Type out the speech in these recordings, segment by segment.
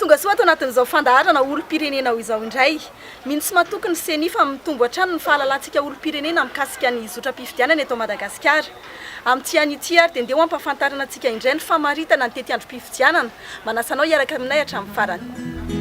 Tonga soa ato anatin'izao fandaharana olom-pirenena ho izao indray. Mino sy matoky ny Ceni fa mitombo hatrany ny fahalalantsika olom-pirenena mikasika ny zotram-pifidianana eto Madagasikara. Amin'ity anio ity ary dia ndeha ho ampahafantarina antsika indray ny famaritana ny tetiandrom-pifidianana. Manasa anao hiaraka aminay hatramin'ny farany.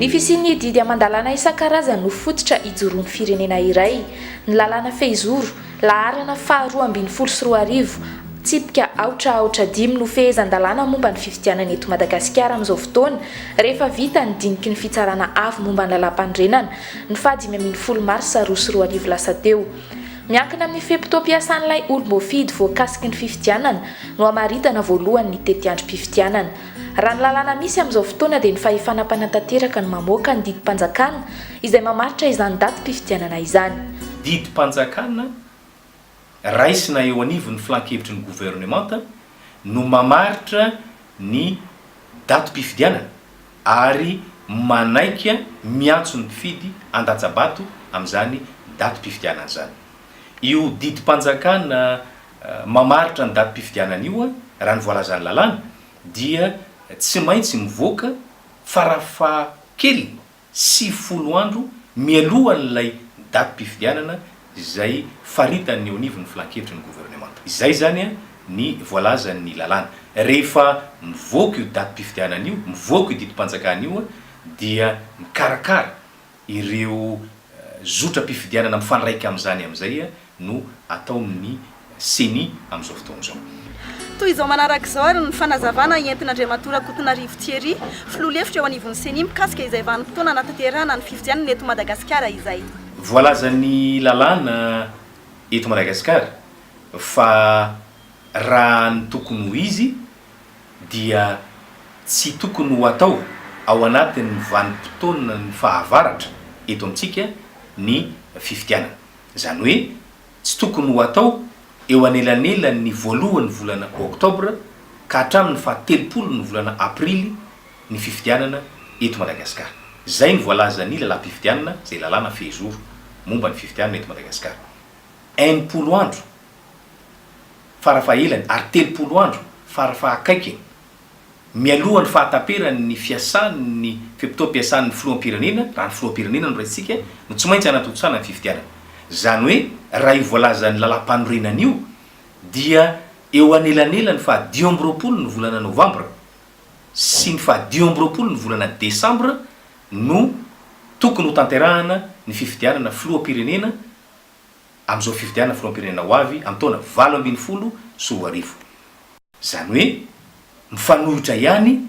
Ny fisian'ny didy aman-dalàna isan-karazany no fototra ijoroan'ny firenena iray. Ny lalàna fehizoro, Laharana faha roa ambin'ny folo sy roa arivo, tsipika aotra aotra dimy no fehezan-dalàna momba ny fifidianana eto Madagasikara amin'izao fotoana, rehefa vita ny diniky ny Fitsarana Avo momba ny Lalàmpanorenana, ny faha dimy ambin'ny folo marsa roa sy roa arivo lasa teo. Miankina amin'ny fe-potoam-piasan'ilay olom-boafidy voakasiky ny fifidianana no hamaritana voalohany ny tetiandrom-pifidianana. Raha ny lalàna misy amin'izao fotoana dia ny fahefana mpanatanteraka no mamoaka ny didim-panjakana, izay mamaritra izany datim-pifidianana izany. Didim-panjakana raisina eo anivon'ny Filan-kevitry ny Governemanta no mamaritra ny datim-pifidianana ary manaiky miantso ny mpifidy handatsa-bato amin'izany datim-pifidianana izany. Io didim-panjakana mamaritra ny datim-pifidianana io, raha ny voalazan'ny lalàna, dia tsy maintsy mivoaka farafahakeliny, sivifolo andro mialohan'ilay datim-pifidianana izay faritany eo anivon'ny Filan-kevitry ny Governemanta. Izay izany ny voalazan'ny lalàna. Rehefa mivoaka io datim-pifidianana io, mivoaka io didim-panjakana io dia mikarakara ireo zotram-pifidianana mifandraika amin'izany amin'izay no ataon'ny Ceni amin'izao fotoana izao. Toy izao manaraka izao ary ny fanazavana entin'Andriamatoa Rakotonarivo Thierry, filoha lefitra eo anivon'ny Ceni mikasika izay vanim-potoana hanatanterahana ny fifidianana eto Madagasikara izay. Voalazan'ny lalàna eto Madagasikara fa raha ny tokony ho izy dia tsy tokony ho atao ao anatin'ny vanim-potoanan'ny fahavaratra eto amintsika ny fifidianana. Izany hoe, tsy tokony ho atao eo anelanelan' ny voalohan' ny volana Oktobra ka hatramin' ny fahatelopolon' ny volana Aprily ny fifidianana eto Madagasikara. Izay no voalazan' ny Lalàm-pifidianana, izay lalàna fehizoro momba ny fifidianana eto Madagasikara. Enimpolo andro farafahelany ary telopolo andro farafahaakaikiny Mialoha ny fahataperany ny fiasany ny fe-potoam-piasany ny filoham-pirenena, raha ny filoham-pirenena no raisintsika, no tsy maintsy hanatontosana ny fifidianana. Izany hoe raha io voalazan'ny lalàmpanorenana io dia eo anelanelan'ny faha dimy amby roapolo ny volana novambra sy ny faha dimy amby roapolo ny volana desambra no tokony hotanterahana ny fifidianana filoham-pirenena amin'izao fifidianana filoham-pirenena ho avy amin'ny taona valo ambin'ny folo sy roa arivo. Izany hoe mifanolotra ihany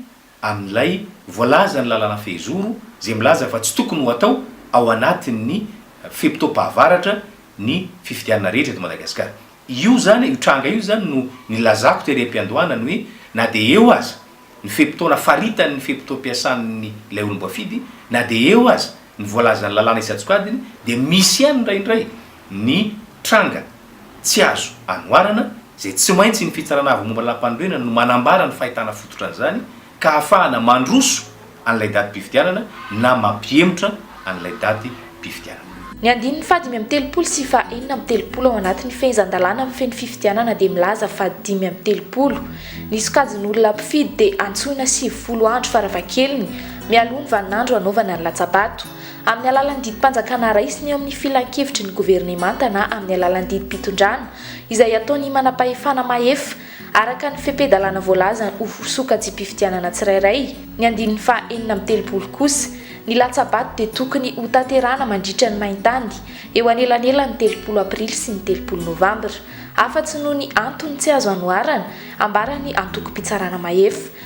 amin'ilay voalazan'ny lalàna fehizoro izay milaza fa tsy tokony ho atao ao anatin'ny fe-potoam-pahavaratra ny fifidianana rehetra eto Madagasikara. Io izany, io tranga io izany no nilazako tery am-piandohana ny hoe na dia eo aza ny fe-potoana faritan'ny fe-potoam-piasan'ny ilay olom-boafidy, na dia eo aza, ny voalazan'ny lalàna isan-tsokajiny dia misy ihany indraindray ny tranga tsy azo anoharana izay tsy maintsy ny Fitsarana Avo Momba ny Lalampanorenana no manambara ny fahitana fototra an'izany ka ahafahana mandroso an'ilay datim-pifidianana na mampihemotra an'ilay datim-pifidianana. Ny andininy faha dimy amby telopolo sy faha enina amby telopolo ao anatin'ny Fehezan-dalàna mifehy ny fifidianana dia milaza fa dimy amby telopolo ny sokajin'olona mpifidy dia antsoina sivifolo andro farafahakeliny mialoha ny vaninandro hanaovana ny latsa-bato. Amin'ny alalan'ny didim-panjakana raisina eo amin'ny filankevitry ny governemanta na amin'ny alalan'ny didim-pitondrana, izay ataon'ny manam-pahefana mahefa, araka ny fepe-dalàna voalaza ho sokajim-pifidianana tsirairay, ny andininy faha enina amby telopolo kosa, ny latsa-bato dia tokony hotanterahana mandritra ny main-tany, eo anelanelan'ny telopolo aprily sy ny telopolo novambra. Afa-tsy noho ny antony tsy azo anoharana, ambaran'ny antokom-pitsarana mahefa,